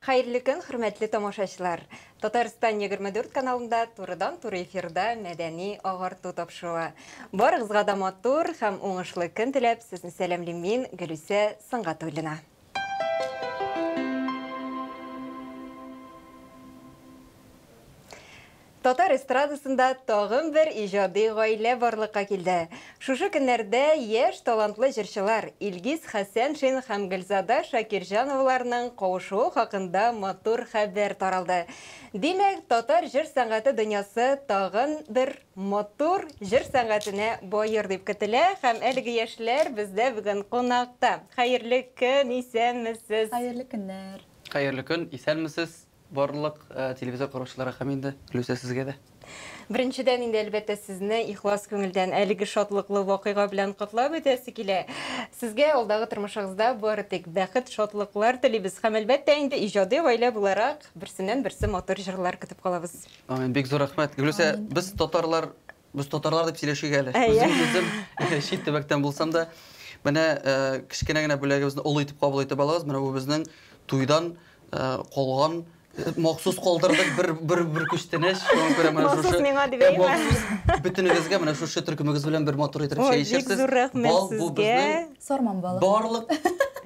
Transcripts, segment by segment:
Хәерле көн, хөрмәтле тамашачылар! Татарстан 24 каналында турыдан-туры эфирда мәдәни агарту тапшыруы. Барыгызга да матур һәм уңышлы көн теләп, сезне сәламлим мин, Гөлүсә Сынгатуллина. Татар эстрадасында тагын бер иҗади гаилә барлыкка килде. Шушы көннәрдә яшь талантлы җырчылар Илгиз Хәсәншин һәм Гөлзада Шакирҗановаларның кавышуы хакында матур хәбәр таралды. Димәк, татар җыр сәнгате дөньясы тагын бер Матур җыр сәнгатенә бай йорт дип көтелә һәм әлеге яшьләр бездә бүген кунакта. Хәерле көн, исәнмесез! Хәерле көннәр! Хәерле көн, исәнмесез барлык телевизор караучыларга һәм инде, Люся, сезгә дә. Беренчедән инде, әлбәттә, сезне ихлас күңелдән әлеге шатлыклы вакыйга белән котлап үтәсе килә. Сезгә алдагы тормышыгызда бары тик бәхет, шатлыклар телибез һәм, әлбәттә, инде иҗади гаилә буларак, берсеннән-берсе матур җырлар көтеп калабыз. Амин, бик зур рәхмәт. Гөлүсә, без татарлар, без татарлар дип сөйләшик әле. Үзем, үзем чит төбәктән булсам да, менә э, кечкенә генә бүләгебезне олы итеп кабул итеп алыгыз. Менә бу безнең туйдан э, калган э, махсус калдырдык бер бер бер күчтәнәч. Шуңа күрә менә Махсус шушы миңа дип Э, әйме? махсус бөтенегезгә менә шушы төркемегез белән бер матур итеп Ой, чәй бик ишерсез. зур рәхмәт Бал бу сезгә. безнең Сарман балы. барлык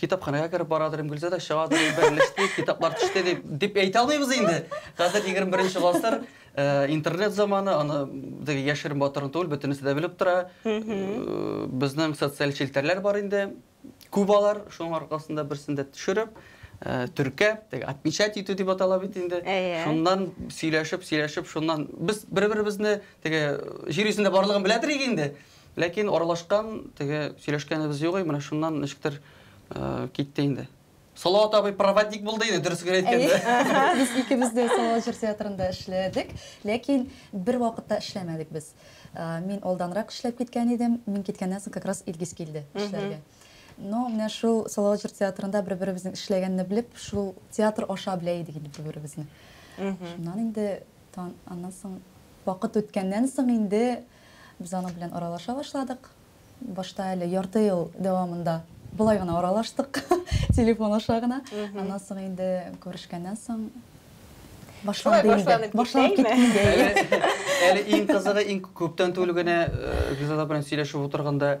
китапханәгә кереп барадыр инде гөлзада чыгадыр берлеште китаплар төште дип дип әйтә алмыйбыз инде хәзер егерме беренче гасыр интернет заманы аны теге яшерен батырын түгел бөтенесе дә белеп тора безнең социаль челтәрләр бар инде күп алар шуның аркасында берсен дә төшереп төркәп теге отмечать итү дип атала бит инде шуннан сөйләшеп сөйләшеп шуннан без бер беребезне теге җир йөзендә барлыгын белә торыйк инде Ләкин аралашкан, теге сөйләшкәнебез юк, менә шуннан ничектер китте инде. Салават абый проводник булды инде, дөресен әйткәндә. Без икебез дә Салават җыр театрында эшләдек, ләкин бер вакытта эшләмәдек без. Мин алданрак эшләп киткән идем, мин киткәннән соң как раз Илгиз килде эшләргә. Но менә шул Салават җыр театрында бер-беребезнең эшләгәнне белеп, шул театр аша белә идек инде бер-беребезне. Шуннан инде аннан соң вакыт үткәннән соң инде Без аның белән аралаша башладык. Башта әле ярты ел дәвамында болай гына аралаштык, телефон аша гына. Аннан соң инде күрешкәннән соң башланды инде. Башланып киткәндәй. Әле иң кызыгы, иң күптән түгел генә Гүзәл белән сөйләшеп утырганда,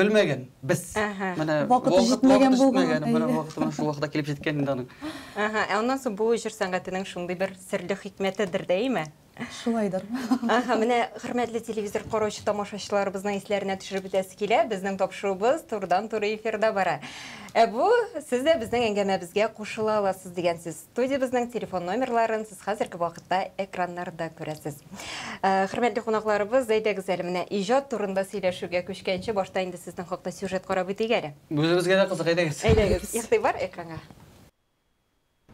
белмәгән без. Менә вакыты җитмәгән булган. Менә вакыты шул вакытта килеп җиткән инде аның. Ага, ә аннан соң бу җыр сәнгатенең шундый бер серле хикмәтедер дәйме? Шулайдыр. Ага, менә хөрмәтле телевизор караучы тамашачыларыбызның исләренә төшереп үтәсе килә. Безнең тапшыруыбыз турыдан-туры эфирда бара. Ә бу сез дә безнең әңгәмәбезгә кушыла аласыз дигән сүз. Студиябезнең телефон номерларын сез хәзерге вакытта экраннарда күрәсез. Э, хөрмәтле кунакларыбыз, әйдәгез әле менә иҗат турында сөйләшүгә күчкәнче, башта инде сезнең хакта сюжет карап үтик әле. Үзебезгә дә кызык, әйдәгез. Әйдәгез, игътибар экранга.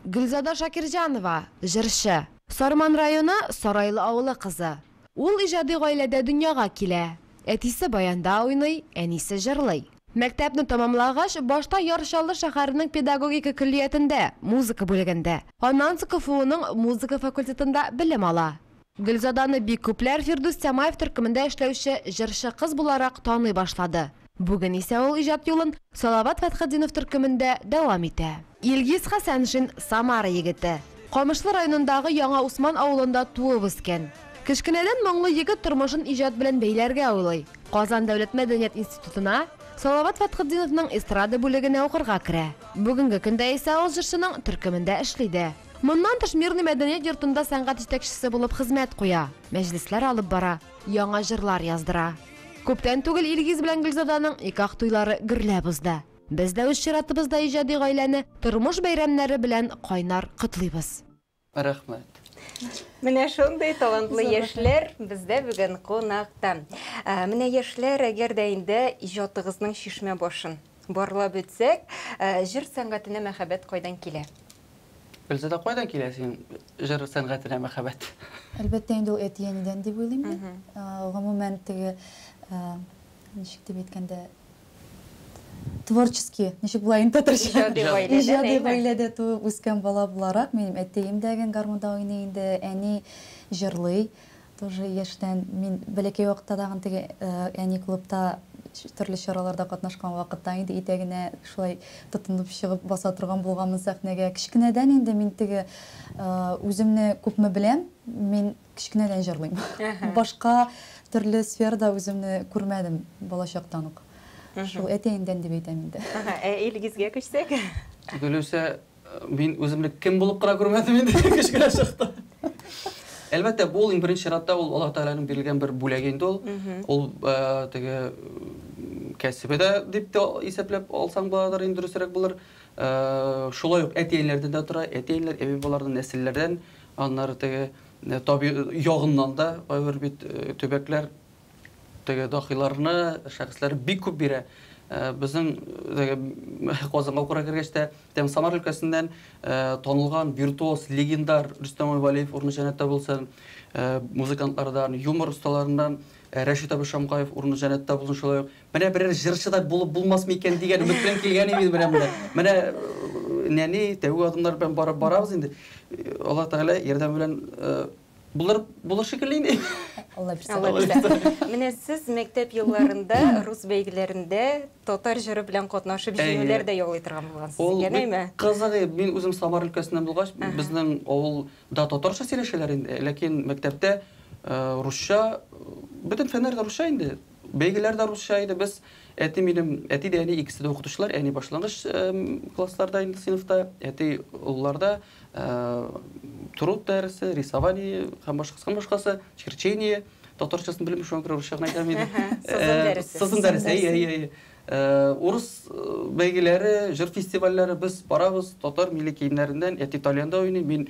Гөлзада Шакирҗанова, җырчы. Сарман районы Сарайлы авылы кызы. Ул иҗади гаиләдә дөньяга килә. Әтисе баянда уйный, әнисе җырлый. Мәктәпне тәмамлагач, башта Яр Чаллы шәһәренең педагогика көллиятендә, музыка бүлегендә, аннан соң КФУның музыка факультетында белем ала. Гөлзаданы бик күпләр Фирдүс Тямаев төркемендә эшләүче җырчы кыз буларак таный башлады. Бүген исә ул иҗат юлын Салават Фәтхетдинов төркемендә дәвам итә. Илгиз Хәсәншин, Самара егете. Камышлы районындагы Яңа Усман авылында туып үскән. Кечкенәдән моңлы егет тормышын иҗат белән бәйләргә уйлый. Казан дәүләт мәдәният институтына, Салават Фәтхетдиновның эстрада бүлегенә укырга керә. Бүгенге көндә исә ул җырчының төркемендә эшли дә. Моннан тыш Мирный мәдәният йортында сәнгать җитәкчесе булып хезмәт куя, мәҗлесләр алып бара, яңа җырлар яздыра. Күптән түгел Илгиз белән Гөлзаданың никах туйлары гөрләп узды. Без дә үз чиратыбызда иҗади гаиләне тормыш бәйрәмнәре белән кайнар котлыйбыз! Рәхмәт! Менә шундый талантлы яшьләр бездә бүген кунакта. Менә яшьләр, әгәр дә инде иҗатыгызның чишмә башын барлап үтсәк, җыр сәнгатенә мәхәббәт кайдан килә? Гөлзада, кайдан килә синең җыр сәнгатенә мәхәббәт? Әлбәттә инде ул әти-әнидән дип уйлыйм мин. Гомумән, теге, ничек дип әйткәндә, Творческий, ничек була инде татарча? Иҗади гаиләдә, Иҗади әйе. гаиләдә туып үскән бала буларак, минем әтием дә гән гармунда уйный инде, әни җырлый. Тоже яшьтән мин бәләкәй вакытта тагын теге э, әни клубта ч- төрле чараларда катнашкан вакытта инде итәгенә шулай тотынып чыгып баса торган булганмын сәхнәгә. Кечкенәдән инде мин теге э, үземне күпме беләм, мин Кечкенәдән җырлыйм. Башка төрле сферада үземне күрмәдем балачактан ук. Шул әтиәеңдән дип әйтәм инде. Ә Илгизгә күчсәк? Гөлүсә, мин үземне кем булып кына күрмәдем инде кечкенә чакта. Әлбәттә, бу ул иң беренче чиратта ул Аллаһ Тәгаләнең бирелгән бер бүләге инде ул. Ул теге кәсебе дә дип тә исәпләп алсаң буладыр, иң дөресрәк булыр. Шулай ук әтиәниләрдән дә тора. Әтиәниләр, әби-бабалардан, нәселләрдән Аннары теге таби ягыннан да кайбер бит төбәкләр теге дахиларны шәхесләр бик күп бирә. Безнең Казанга укырга кергәч тә тем Самар өлкәсеннән танылган виртуоз легендар Рөстәм Валиев урыны җәнәттә булсын. Музыкантлардан, юмор осталарыннан Рәшит Абышамгаев урыны җәнәттә булсын шулай ук. Менә берәр җырчы да булып булмасмы икән дигән өмет белән килгән идем менә монда. Менә нәни тәүге адымнар белән барып барабыз инде. Алла Тәгалә ярдәме белән булыр булыр шикелле инде. Алла бирса. Менә сез мәктәп елларында рус бәйгеләрендә татар җыры белән катнашып җиңүләр дә яулый торган булгансыз. Ул бик кызык иде. Мин үзем Самар өлкәсеннән булгач, безнең авылда татарча сөйләшәләр инде, ләкин мәктәптә русча, бөтен фәннәр дә русча инде. Бәйгеләр дә русча иде. Без, әти минем, әти дә, әни икесе дә укытучылар. Әни башлангыч классларда инде сыйныфта, әти олыларда труд дәресе, рисование һәм башкасы һәм башкасы, черчение татарчасын белмим, шуңа күрә русча гына әйтәм инде. Сызым дәресе. Сызым дәресе, әйе, әйе, әйе. Урыс бәйгеләре, җыр фестивальләре, без барабыз, татар милли киемнәрендән, әти тальянда уйный, мин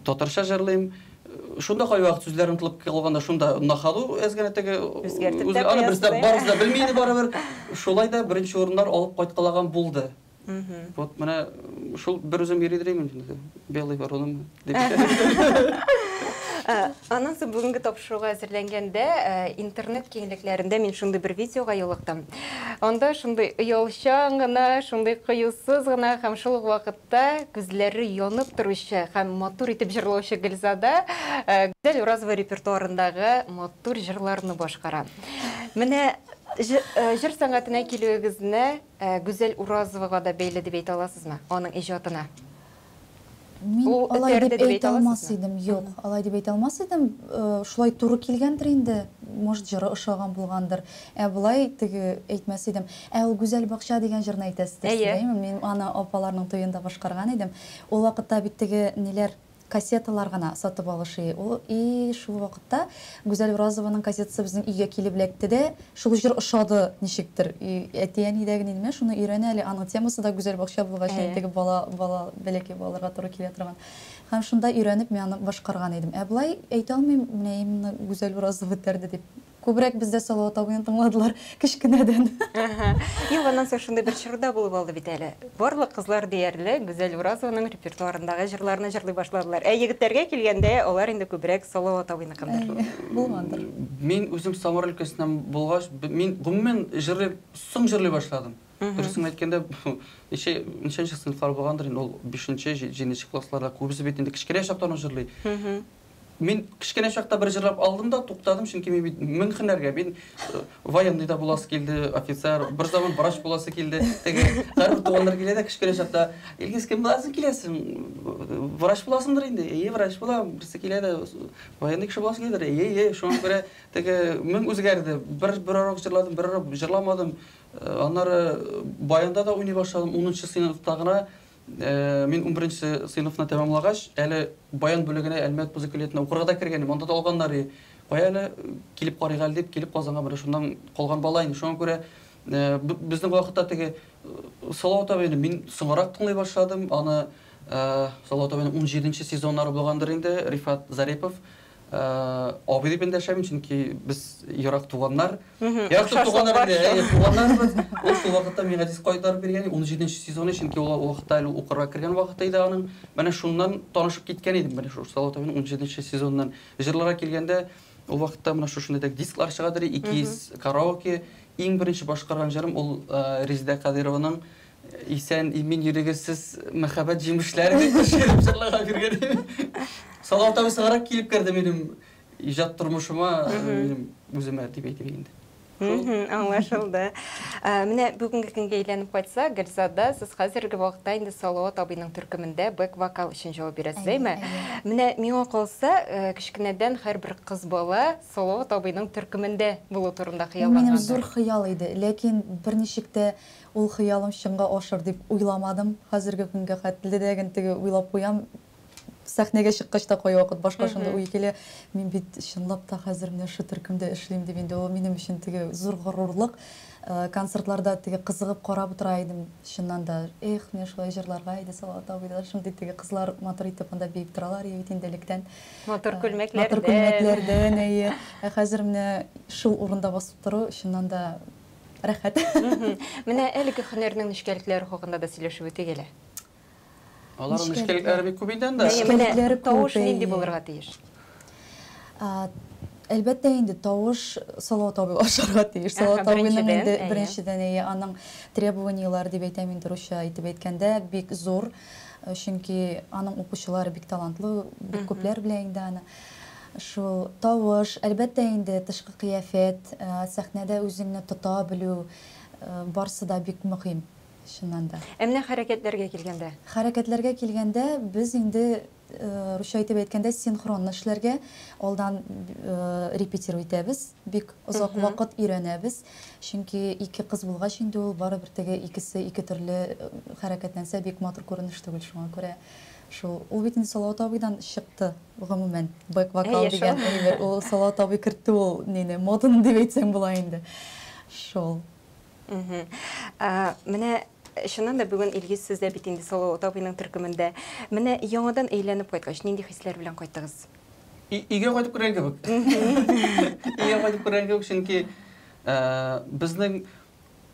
татарча җырлыйм. Шунда кайвакыт сүзләр онытылып калганда шунда на ходу әз генә теге үзгәртеп тә куясыз. Барыбыз да белми иде барыбер. Шулай да беренче урыннар алып кайткалаган булды. Вот менә шул бер үзем йөри димим инде. Белый вороным дип. Аннан соң бүгенге тапшыруга әзерләнгәндә интернет киңлекләрендә мин шундый бер видеога юлыктым. Анда шундый оялчан гына, шундый кыюсыз гына һәм шул ук вакытта күзләре янып торучы һәм матур итеп җырлаучы Гөлзада Гүзәл Уразова репертуарындагы матур җырларны башкара. Менә җыр сәнгатенә килүегезне Ә Гүзәл Уразовага да бәйле дип әйтә аласызмы? Аның иҗатына. Мин Ул алай этәрде дип дип әйтә әйтә алмас аласызмы? идем, юк, алай дип әйтә алмас идем. Шулай туры килгәндер инде, может, җыры ошаган булгандыр. Ә болай теге әйтмәс идем. Ә ул Гүзәл бакча дигән җырны әйтәсездер, Әйе. сөйләйме? Мин аны апаларның туенда башкарган идем. Ул вакытта бит теге ниләр, Кассеталар гына сатып алышы ул и шул вакытта Гүзәл Уразованың кассетасы безнең өйгә килеп эләкте дә, шул җыр ошады ничектер. И әти-әни дә генә ними, шуны өйрәнә әле, аның темасы да Гүзәл бакча булгач инде теге бала, бала, бәләкәй балаларга туры килә торган. Һәм шунда өйрәнеп мин аны башкарган идем. Ә болай әйтә алмыйм, менә именно Гүзәл Уразова этәрде дип. Күбрәк бездә Салават абыйны тыңладылар кечкенәдән. Әһә. Юк, аннан соң шундый бер чор да булып алды бит әле. Барлык кызлар диярлек Гүзәл Уразованың репертуарындагы җырларны җырлый башладылар. Ә егетләргә килгәндә, алар инде күбрәк Салават абыйныкындыр. Әйе, булгандыр. Мин үзем Самар өлкәсеннән булгач, мин гомумән җырлый, соң җырлый башладым. Дөресен әйткәндә, ничә, ничәнче сыйныфлар булгандыр инде, ул бишенче, җиденче классларда, күбесе бит инде кечкенә чактан ук җырлый. Мин кечкенә чакта бер җырлап алдым да туктадым, чөнки мин бит мең һөнәргә, мин военный да буласы килде, офицер, бер заман врач буласы килде. Теге һәрбер туганнар килә дә кечкенә чакта, Илгиз, кем буласы киләсең? Врач буласыңдыр инде? Әйе, врач булам. Берсе килә дә, военный кеше буласы киләдер? Әйе, әйе. Шуңа күрә теге мең үзгәрде. Бер бер урок җырладым, бер урок җырламадым. Аннары баянда да уйный башладым, унынчы сыйныфта гына Мин унберенче сыйныфны тәмамлагач, әле баян бүлегенә Әлмәт музыкалиятына укырга да кергән идем. Анда да алганнар и. Кая әле килеп карыйк әле дип, килеп Казанга менә шуннан калган бала инде. Шуңа күрә безнең вакытта теге Салау табыйны мин соңарак тыңлый башладым. Аны Салау табыйны унҗиденче сезоннары булгандыр инде, Рифат Зарипов. Абый дип эндәшәм, чөнки без ерак туганнар. Ерак туганнар инде, әйе, туганнарбыз. Ул шул вакытта миңа диск кайтарып биргән, 17 нче сезоны, чөнки ул вакытта әле укырга кергән вакыты иде аның. Менә шуннан танышып киткән идем, менә шул Салават абыйның 17 нче сезоныннан. Җырларга килгәндә, ул вакытта менә шушындый да дисклар чыгадыр, икиз караоке. Иң беренче башкарган җырым ул Резеда Кадыйрованың Исән, имин йөрегез сез, мәхәббәт җимешләре дип пешереп җырларга биргән. Сала тау сыгырак килеп керде минем иҗат тормышыма, минем үземә дип әйтим инде. Аңлашылды. Менә бүгенге көнгә әйләнеп кайтса, Гөлзада, сез хәзерге вакытта инде Салават абыйның төркемендә бэк-вокал өчен җавап бирәсез, әйме? Менә миңа калса, кечкенәдән һәрбер кыз бала Салават абыйның төркемендә булу турында хыяллангандыр. Бу минем зур хыял иде, ләкин берничек тә Ул хыялым чынга ашыр дип уйламадым. Хәзерге көнгә хәтле дә гел теге уйлап куям. Сәхнәгә чыккач та кайвакыт башка шундый уй килә, мин бит чынлап та хәзер менә шул төркемдә эшлим дип, инде ул минем өчен теге зур горурлык. Концертларда теге кызыгып карап утыра идем, чыннан да, эх, менә шулай җырларга иде Салават абый да, шундый теге кызлар матур итеп анда биеп торалар иде бит инде электән. Матур күлмәкләрдән. Матур күлмәкләрдән, әйе. Ә хәзер менә шул урында басып тору, чыннан да, Рәхмәт. Менә әлеге хөнәрнең нечкәлекләре хакында да сөйләшеп үтик әле. Аларның нечкәлекләре бик күп инде анда. Нечкәлекләре тавыш нинди булырга тиеш? Әлбәттә инде тавыш салау табып ашарга тиеш. Салау табуның инде беренчедән әйе, аның требованиеләре дип әйтәм мин русча итеп әйткәндә бик зур. Чөнки аның укучылары бик талантлы, бик күпләр белә инде аны. Шул тавыш, әлбәттә инде, тышкы кыяфәт, сәхнәдә үзеңне тота белү, барсы да бик мөһим, чыннан да. Ә менә хәрәкәтләргә килгәндә? Хәрәкәтләргә килгәндә, без инде, русча итеп әйткәндә, синхронно эшләргә, алдан репетиру итәбез, бик озак вакыт өйрәнәбез. Чөнки ике кыз булгач инде ул барыбер теге икесе ике төрле хәрәкәтләнсә, бик матур күренеш түгел, шуңа күрә шул. Ул бит инде Салават абыйдан чыкты. Гомумән, бэк-вокал дигән әйбер, ул Салават абый кертте ул нине, моданы дип әйтсәң була инде. Шул. Менә чыннан да бүген Илгиз сез дә бит инде Салават абыйның төркемендә. Менә яңадан әйләнеп кайткач, нинди хисләр белән кайттыгыз? Өйгә кайтып күргән кебек. Өйгә кайтып күргән кебек, чөнки безнең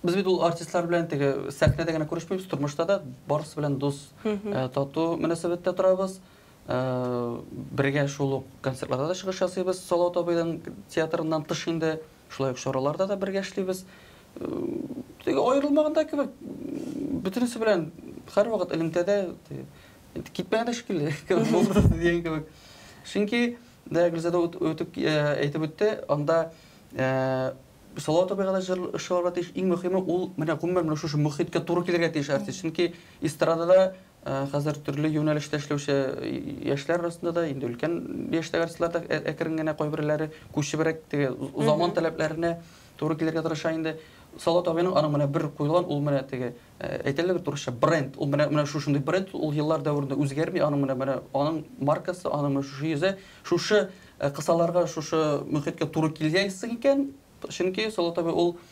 без бит ул артистлар белән теге сәхнәдә генә күрешмибез, тормышта да барысы белән дус, тату мөнәсәбәттә торабыз. Бергә шул ук концертларда да чыгыш ясыйбыз, Салават абыйның театрыннан тыш инде, шулай ук чараларда да бергә эшлибез. Теге аерылмаган да кебек, бөтенесе белән һәрвакыт элемтәдә, китмәгән дә шикелле кебек булды дигән кебек. Чөнки дә Гөлзада үтеп әйтеп үтте, анда Салават абыйга да җыр ышыгарга тиеш. Иң мөһиме ул менә гомумән менә шушы мөхиткә туры килергә тиеш артист. Чөнки эстрадада Э, хәзер төрле юнәлештә эшләүче яшьләр арасында да инде өлкән яшьтәге артистлар да ә, әкрен генә кайберләре күчебрәк теге заман таләпләренә туры килергә тырыша инде салат абыйның аның менә бер куелган ул менә теге э, әйтәләр бит урысча бренд ул менә менә шушындый бренд ул еллар дәверендә үзгәрми аның менә менә аның маркасы аның менә шушы йөзе шушы э, кысаларга шушы мөхиткә туры килгәнсең икән чөнки салат абый ул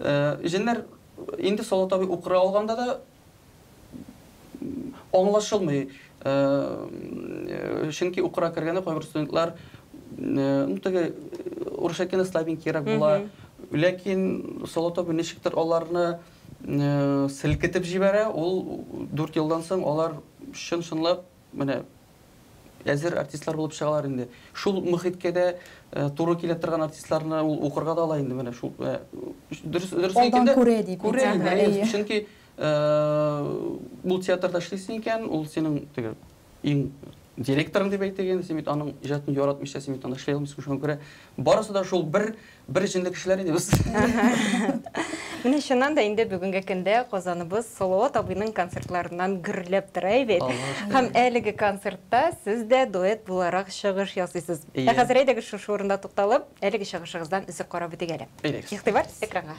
Җеннәр инде Салават абый укыры алганда да аңлашылмый, чөнки укырга кергәндә кайбер студентлар ну теге урысча әйткәндә слабенькийрәк була, ләкин Салават абый ничектер аларны селкетеп җибәрә, ул дүрт елдан соң алар чын-чынлап менә Әзер артистлар булып чыгалар инде. Шул мөхиткә дә туры килә торган артистларны ул укырга да ала инде менә шул. Дөрес дөрес әйткәндә. Күрә дип. Күрә. Чөнки бу театрда эшлисең икән, ул синең теге иң директорың дип әйтегез, син бит аның иҗатын яратмыйча син бит аны эшли алмыйсың, шуңа күрә барысы да шул бер Бер җенле кешеләр иде без. Менә чыннан да инде бүгенге көндә Казаныбыз Салават абыйның концертларыннан гөрләп тора бит. Һәм әлеге концертта сез дә дуэт буларак чыгыш ясыйсыз. Ә хәзер әйдәгез шушы урында тукталып, әлеге чыгышыгыздан өзек карап үтик әле. Игътибар экранга.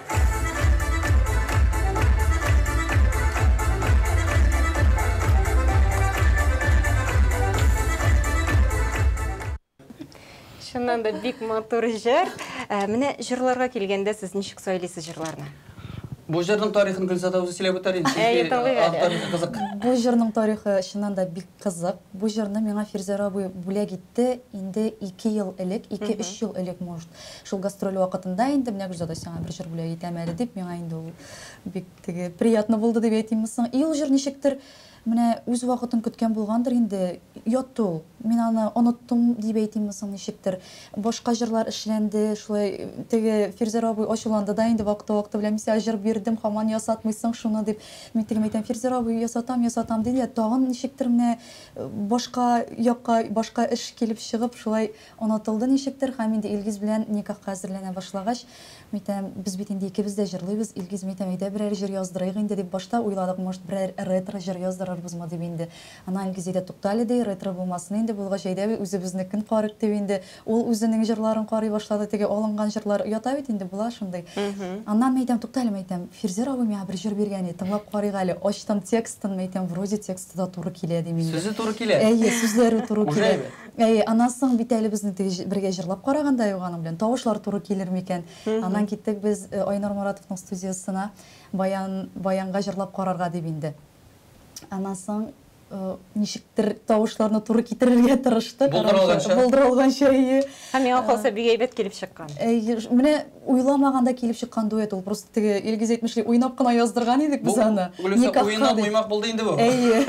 Чыннан да бик матур җыр. Ә, Менә җырларга килгәндә сез ничек сайлыйсыз җырларны? Бу җырның тарихын Гөлзада үзе сөйләп үтәр инде. Әйе, чөнки, тыңлыйк әле. авторлыгы кызык. Бу җырның тарихы чыннан да бик Кызык, бу җырны миңа Фирзәр абый бүләк итте инде ике ел элек, ике-өч ел элек, может. Шул гастроль вакытында инде, менә Гөлзада сиңа бер җыр бүләк итәм әле дип, миңа инде ул бик теге приятно булды дип әйтимме соң. И ул җыр ничектер менә үз вакытын көткән булгандыр инде, ятты ул. Мин аны оныттым дип әйтимме соң ничектер. Башка җырлар эшләнде, шулай теге Фирзәр абый ачуланды да инде вакыты-вакыты белән, мин сиңа җыр бирдем, хаман ясатмыйсың шуны дип. Мин тегем әйтәм, Фирзәр абый, ясатам, ясатам, ди дә, тагын ничектер менә башка якка, башка эш килеп чыгып, шулай онытылды ничектер. Һәм инде Илгиз белән никахка әзерләнә башлагач, мин әйтәм, без бит инде икебез дә җырлыйбыз, Илгиз, мин әйтәм, әйдә берәр җыр яздырыйк инде, дип башта уйладык, может, берәр ретро җыр яздырырбызмы дип инде. Аннан Илгиз әйтә, туктале, ди, ретро булмасын инде, булгач, әйдә, үзебезнекен карыйк, дип инде. Ул үзенең җырларын карый башлады, теге алынган җырлар ята бит инде, була шундый. Аннан мин әйтәм, туктале, мин әйтәм, Фирзер абый миңа бер җыр биргән иде, тыңлап карыйк әле. Ачтым текстын, мин әйтәм, вроде тексты да туры килә, дим инде. Сүзе туры килә? Әйе, сүзләре туры килә. Уже әйбәт. Әйе, аннан соң бит әле безнең теге бергә җырлап караганда юк аның белән, тавышлар туры килер микән. Аннан киттек без Айнур Моратовның студиясына, Баян, Баянга җырлап карарга дип инде. Аннан соң. Ничектер тавышларны туры китерергә тырышты. Булдырылганча. Булдырылганча, әйе. Һәм миңа калса бик әйбәт килеп чыккан. Әйе, менә уйламаганда килеп чыккан дуэт ул. Просто теге Илгиз әйтмешли, уйнап кына яздырган идек без аны. Бу Гөлүсә уеннан уймак булды инде бу. Әйе.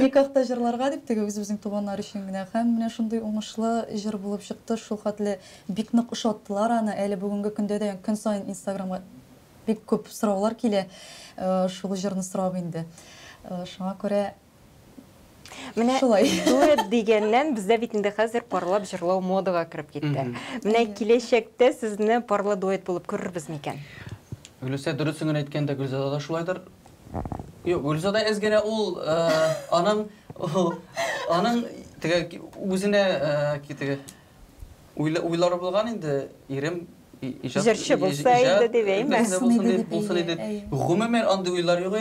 Никахта җырларга дип теге үзебезнең туганнар өчен генә. Һәм менә шундый уңышлы җыр булып чыкты. Шулхәтле бик нык ошаттылар аны. Әле бүгенге көндә дә көн саен инстаграмга Бик күп сораулар килә, шул җырны сорап инде. Шуңа күрә Менә дуэт дигәннән, бездә бит инде хәзер парлап җырлау модага кереп китте. Менә киләчәктә сезне парлы дуэт булып күрербез микән? Гөлүсә, дөресен генә әйткәндә, Гөлзада да шулайдыр. Юк, Гөлзада әз генә ул аның аның теге үзенә теге Уйлары булган инде, ирем иҗат җырчы булса иде дип әйме? Булсын иде. Гомумән андый уйлар юк.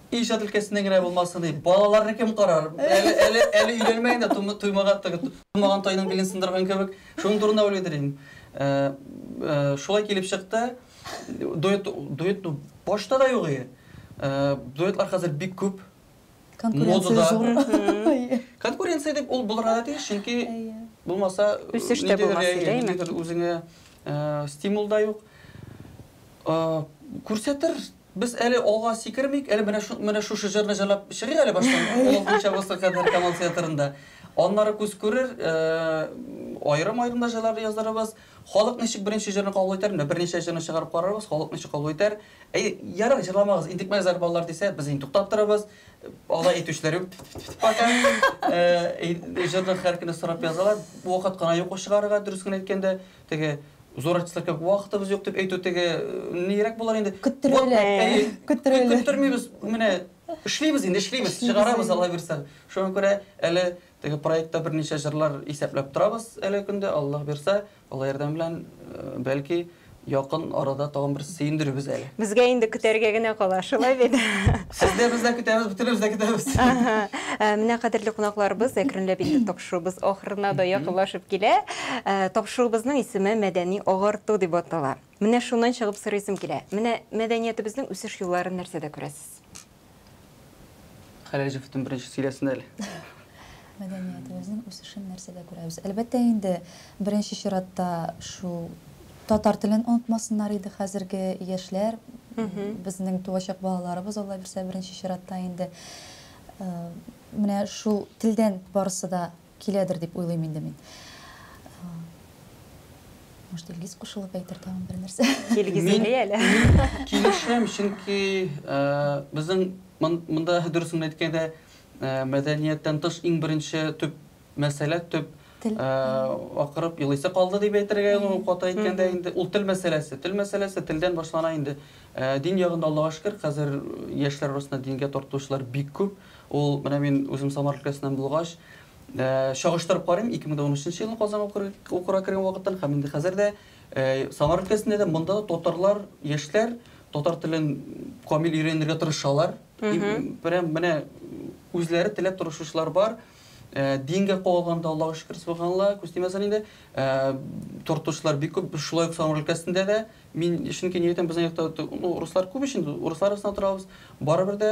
Иҗат өлкәсеннән генә булмасын иде. Балаларны кем карар? Әле әле өйләнмәгән дә туймаган туймаган тайның билен сындырган кебек. Шуның турында уйлыйдыр инде. Шулай килеп чыкты. Дуэт дуэт башта да юк иде. Дуэтлар хәзер бик күп. Конкуренция зур. Конкуренция дип ул булырга да тиеш, чөнки булмаса, үсеш тә булмас иде, әйме? Ниндидер үзеңә стимул да юк. Күрсәтер, без әле алга сикермик, әле менә шушы җырны җырлап чыгыйк әле баштан, олы хуҗабызга кадәр Камал театрында. Аннары күз күрер, аерым-аерым да җырлар яздырырбыз. Халык ничек беренче җырны кабул итәр? Менә берничә җырны чыгарып карарбыз, халык ничек кабул итәр. Әйе, ярар, җырламагыз, интекмәгезләр балалар дисә, без инде туктап торабыз. Алай әйтүчеләр юк, тф-тф-тф-тф, пока. Әйе, җырны һәр көнне сорап язалар. Вакыт кына юк ул чыгарырга, дөрес кенә әйткәндә. Теге, зур артистлар кебек, вакытыбыз юк дип әйтү теге нирәк булыр инде? Көттерәләр. Әйе, көттерәләр. Көттермибез, менә эшлибез инде, эшлибез, чыгарабыз, Алла бирса. Шуңа күрә әле Теге проектта берничә җырлар исәпләп торабыз әлеге көндә, Аллаһ бирсә, Алла ярдәме белән, бәлки, якын арада тагын берсе сөендерербез әле. Безгә инде көтәргә генә кала, шулай бит? Сез дә, без дә көтәбез, бөтенебез дә көтәбез. Аһа. Менә кадерле кунакларыбыз, әкренләп инде тапшыруыбыз ахырына да якынлашып килә. Тапшыруыбызның исеме Мәдәни агарту дип атала. Менә шуннан чыгып сорыйсым килә, менә мәдәниятебезнең үсеш юлларын нәрсәдә күрәсез? Хәләҗевтен беренче сөйләсен әле. Мәдәниятебезнең үсешен нәрсәдә күрәбез? Әлбәттә инде, беренче чиратта шул татар телен онытмасыннар иде хәзерге яшьләр, безнең туачак балаларыбыз Алла бирсә беренче чиратта инде. Менә шул телдән барысы да Киләдер дип уйлыйм инде мин. Может, Илгиз кушылып әйтер тагын бер нәрсә? Илгиз әйли әле. Килешәм, чөнки безнең монда дөресен әйткәндә мәдәнияттән тыш иң беренче төп мәсьәлә, төп акырып елыйсы калды дип әйтергә ул каты әйткәндә инде ул тел мәсьәләсе. Тел мәсьәләсе телдән башлана инде. Дин ягында Аллага шөкер, хәзер яшьләр арасында дингә тартылучылар бик күп. Ул, менә мин үзем Самар өлкәсеннән булгач, чагыштырып карыйм, 2013 елны Казанга укырга кергән вакыттан һәм инде хәзер дә Самар өлкәсендә дә, монда да татарлар, яшьләр татар телен камил өйрәнергә тырышалар. Прям менә үзләре теләп тырышучылар бар. Дингә кагылганда, Аллага шөкер, субханалла, күз тимәсен инде. Тортучылар бик күп, шулай ук Самар өлкәсендә дә. Мин чөнки ни әйтәм, безнең якта руслар күп ич инде, руслар арасында торабыз. Барыбер дә